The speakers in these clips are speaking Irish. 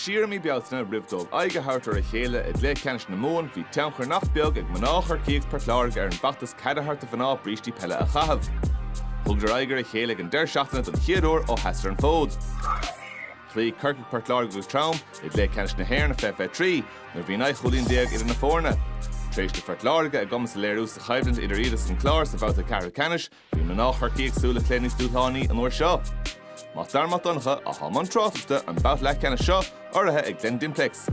Siar i mí Bealtaine, roimh dóibh aghaidh a thabhairt ar a chéile i gcluiche ceannais na Mumhan, bhí tionchar nach beag ag mná Chorcaí agus Port Láirge ar an bhfeachtas cead a thabhairt do mhná brístí peile a chaitheamh. Thugadar aghaidh ar a chéile ag an deireadh seachtaine don chéad uair ó sheasadar an fód. Chloígh Corcaigh Port Láirge go trom i gcluiche ceannais na hÉireann faoi 23 nuair a bhí naoi chúilín déag idir na foirne. Tar éis do Phort Láirge a gcumas a léiriú sa choimhlint idir iad agus an Clár sa bhabhta ceathrú ceannais, Bhí mná Chorcaí ag súil le plé níos dúshlánaí an uair seo. Mac Dara Mac Donncha, a thá i mbun tráchtaireachta don bhabhta leathcheannais seo, urraithe ag Glen Dimplex.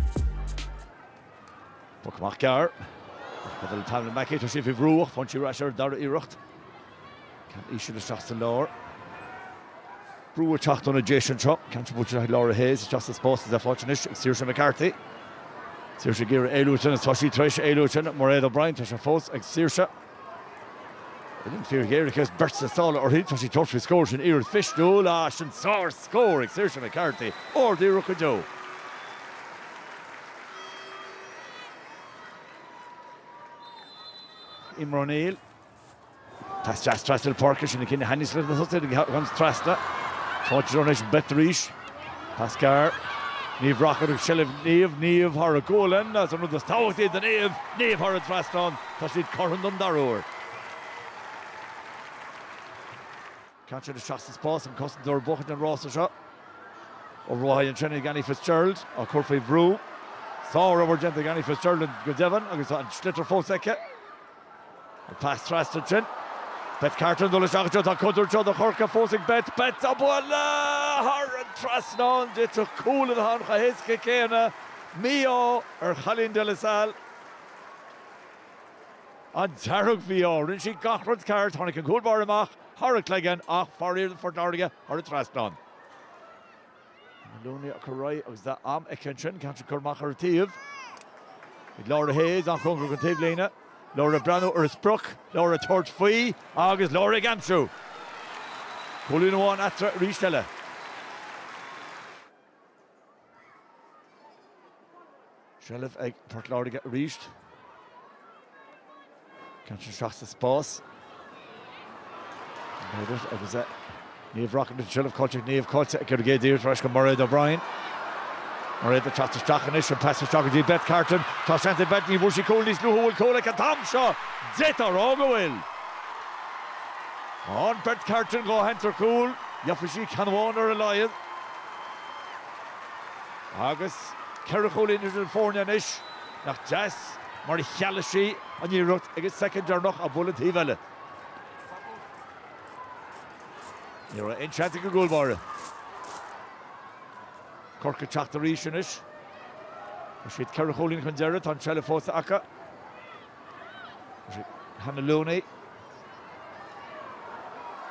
Poc amach gearr. Chomh fada le Pamela Mackey, tá sí faoi bhrú ach faigheann sí é ar ais ar an dara hiarracht. Ceann íseal isteach sa lár. Brú ag teacht ó na Déise anseo. Ceann sin buailte isteach ag Laura Hayes, isteach sa spás is é faighte anois ag Saoirse McCarthy. Saoirse ag iarraidh éalú a dhéanamh. Tá sí tar éis éalú a dhéanamh. Mairéad O'Brien, tá sé fós ag Saoirse. Bhfuil an fíric fhéin ar cheist beirt sna sála uirthi? Tá sí ag tabhairt faoi scór sin iarracht mhisniúil, ah, sin sár scór ag Saoirse McCarthy, ard iarracht go deo. Eimear O'Neill. Pas deas trasna na páirce, sin an cineál a thaitníos leis na tosaithe, ceann trasna. Táid ag dul anois, an bheirt arís. Pas gearr, Niamh Rockett i seilbh, Niamh, Niamh thar a gualainn, is an rud is tábhachtaí do Niamh, Niamh thar an trasnán, tá siad cothrom don dara huair. Ceann sin isteach sa spás an cosantóir ag buachan an rása seo obair an-tréan ag Annie Fitzgerald á cur faoi bhrú. Sár-obair déanta ag Annie Fitzgerald go deimhin agus tá an sliotar fós aici. An pas trasna sin. Beth Carton ag dul isteach anseo. Tá contúirt anseo do Chorcaigh fós ag Beth. Beth á bualadh thar an trasnán. D'fhéadfadh cúl a bheith ann chomh héasca céanna. Mí-ádh ar Chailín De La Salle. An dearg mhí-ádh. Rinne sí gach rud ceart. Tháinig an cúl báire amach thar a cloigeann ach, faraor do Phort Láirge, thar an trasnán. Looney ag cur uaithi agus tá am aici ansin, ceann curtha amach ar an taobh ag Laura Hayes, an-chóngarach don taobhlíne, Laura ag breathnú ar a sprioc, Laura ag tabhairt faoi agus Laura ag aimsiú! Cúilín amháin eatarthu arís eile. seilbh ag Port Láirge arís. Ceann sin isteach sa spás. Murder agus é. Niamh Rockett an tseilbh caillte ag Niamh, caillte ag Corcaigh, díreach ar ais go Mairéad O'Brien. Mairéad ag teacht isteach anois an pas isteach go dtí Beth Carton. Tá seans ag Beth ní bhfuair sí cúl níos luaithe bhfuil cúl aici an t-am seo. D'fhéadfá a rá go bhfuil. An Beth Carton dhá sheans ar chúl gheobhfaidh sí ceann amháin ar a laghad. Agus ceithre chúilín idir na foirne anois, nach deas mar a chealaigh sí an iarracht ag an soicind deireanach ag bualadh an taobh eile. Ní raibh aon seans ag an gcúl báire. Corcaigh ag teacht arís anois. Tá siad ceithre chúilín chun deiridh, tá an tseilbh fós acu. Hannah Looney.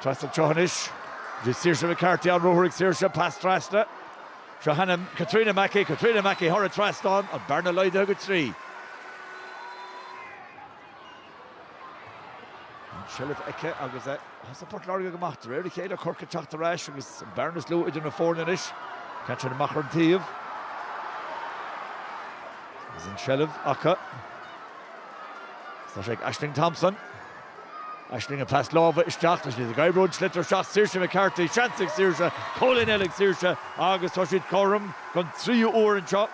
Trasna anseo anois. Go dtí Saoirse McCarthy, an ruathar ag Saoirse, pas trasna. Seo chugainn Katrina Mackey, Katrina Mackey thar an trasnán, an bearna laghdaithe go trí. An seilbh aici agus a fhios ag Port Láirge go maith, de réir a chéile Corcaigh ag teacht ar ais agus an bearna is lú idir na foirne anois. Caite amach ar an taobh. Agus an seilbh acu. Tá sé ag Aisling Thompson. Aisling an pas láimhe isteach, tá siad ag oibriú an sliotar isteach, Saoirse McCarthy, seans ag Saoirse, cúilín eile ag Saoirse agus tá siad cothrom don tríú uair anseo.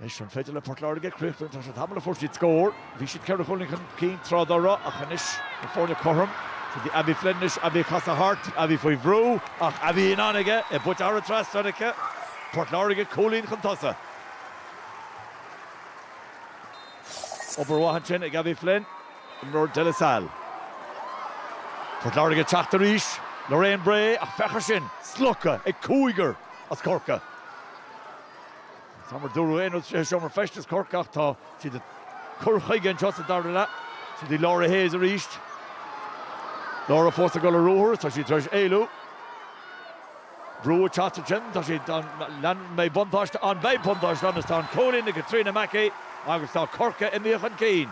Anois an féidir le Port Láirge críochnú, tá sé tamall ó fuair siad scór. Bhí siad ceithre chúilín chun cinn tráth dá raibh ach anois na foirne cothrom. Sin í Abbie Flynn anois, Abbie ag casadh thart, Abbie faoi bhrú ach Abbie in ann aige, é buailte thar an trasnán aici. Port Láirge cúilín chun tosaigh. Obair mhaith ansin ag Abbie Flynn, imreoir De La Salle. Port Láirge ag teacht arís, Lorraine Bray ach féach ar sin, slogtha ag cúigear as Corcaigh. Níl a fhios agam ar dúradh aon rud sa seomra feistis Chorcaí ach tá siad ag cur chuige anseo sa dara leath. Siúd í Laura Hayes arís. Laura fós ag dul ar ruathar, tá sí tar éis éalú. Brú ag teacht ansin, tá sí an mbeidh buntáiste ann, beidh buntáiste ann is tá an cúilín ag Katrina Mackey agus tá Corcaigh imithe chun cinn.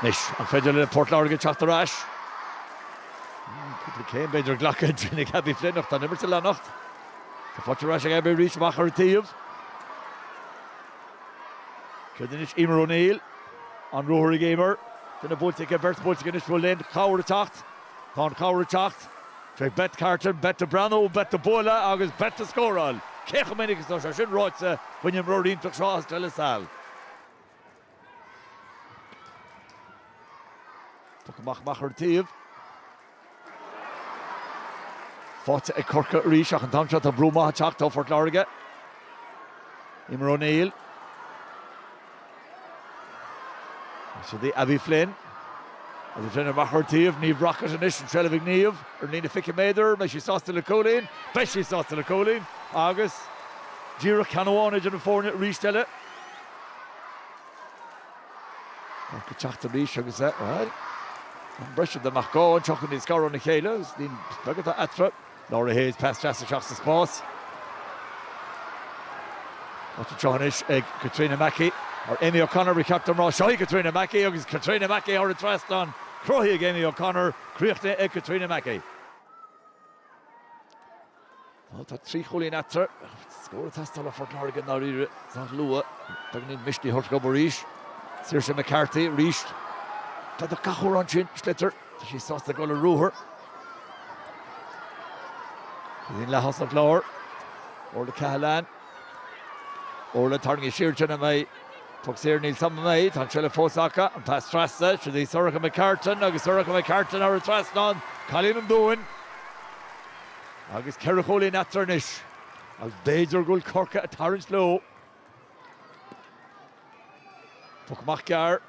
Anois an féidir le Port Láirge ag teacht ar ais. Cúpla céim b'fhéidir glactha ansin ag Abbie Flynn ach tá an imirt ag leanacht. Tá faighte ar ais ag Abbie arís amach ar an taobh. Céard anois Emer O'Neill. An ruathar ag Emer. Duine buailte aici, beirt buailte aici anois. Bhfuil aon chabhair ag teacht. Tá an chabhair ag teacht. Trí Beth Carton, Beth ag breathnú, Beth ag bualadh agus Beth ag scóráil. Cé chomh minic is atá sé sin ráite faoin imreoir iontach seo as De La Salle? Poc amach amach ar an taobh. Faighte ag Corcaigh arís ach an t-am seo tá brú maith ag teacht ó Phort Láirge. Emer O'Neill. Siúd í Abbie Flynn. Abbie Flynn amach ar an taobh, Niamh Rockett anois an tseilbh ag Niamh ar líne 20 méadar, beidh sí sásta le cúilín, beidh sí sásta le cúilín agus díreach ceann amháin idir na foirne arís eile. Corcaigh ag teacht arís agus é thar an bhreis idir Mac Gabhann an teocht níos gaire óna chéile agus ní beag atá eatarthu. Laura Hayes, pas deas isteach sa spás. Áit anseo anois ag Caitríona Mackey, ar Amy O'Connor an captaen trasna. Seo í Caitríona Mackey agus Caitríona Mackey thar an trasnán. Cruthaithe ag Amy O'Connor, críochnaithe ag Caitríona Mackey. Tá trí chúilín eatarthu. Scór ag teastáil ó Phort Láirge i ndáiríre sách luath. Beagáinín misnigh a thabhairt dóibh arís. Saoirse McCarthy arís. D'fhéadfadh gach uair an sliotar. Tá sí sásta dul ar ruathar. Tá sí sa leathchúl i lár. Orla Cahalane. Orla tarraingí siar ansin. An mbeidh puc saor? Níl, ní bheidh. Tá an tseilbh fós acu. An pas trasna. Siúd í Sorcha McCartan agus Sorcha McCartan thar an trasnán. Cailín an Dúin. Agus ceithre chúilín eatarthu anois agus b'fhéidir go bhfuil Corcaigh ag tarraingt leo. Puc amach gearr.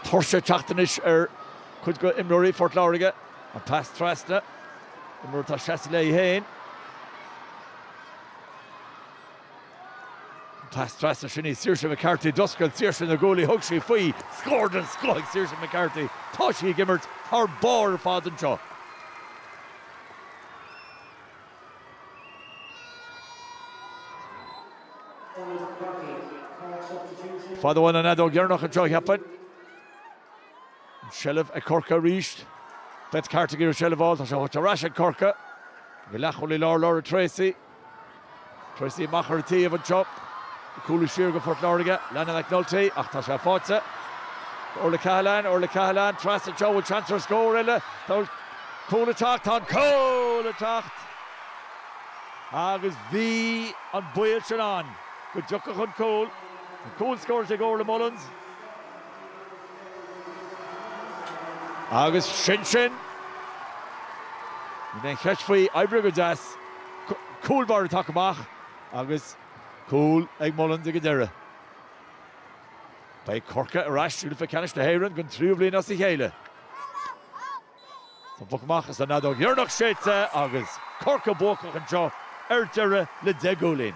Tuirse ag teacht anois ar chuid d'imreoirí Phort Láirge. An pas trasna. Imreoir atá seasta léi féin. Trasna sin í Saoirse McCarthy, d'oscail Saoirse na guaillí, thug sí faoi, scór den scoth ag Saoirse McCarthy, tá sí ag imirt thar barr ar fad anseo. Fad ón bhfeadóg dheireanach anseo, cheapfainn. An tseilbh ag Corcaigh arís. Beth Carter ag iarraidh seilbh a fháil, tá sé ar ais ag Corcaigh. Ag leathchúl i lár Laura Treacy. Treacy amach ar an taobh anseo. Ag cúlú siar do Phort Láirge, Alannah McNulty, ach tá sé faighte. Orla Cahalane, Orla Cahalane, trasna anseo, bhfuil seans ar scór eile? Tá an cúl ag teacht, tá an cúl ag teacht! Agus bhí an baol sin ann go dtiocfadh an cúl. An cúl scóráilte ag Orla Mullins. Agus sin sin! Níl aon cheist faoi, oibrithe go deas! Cúl báire tagtha amach agus cúl ag Mullins ag an deireadh. Beidh Corcaigh ar ais i gCluiche Ceannais na hÉireann den tríú bhliain as a chéile. Tá an puc amach is an fheadóg dheireanach séidte agus Corcaigh buacach anseo ar deireadh le deich gcúilín.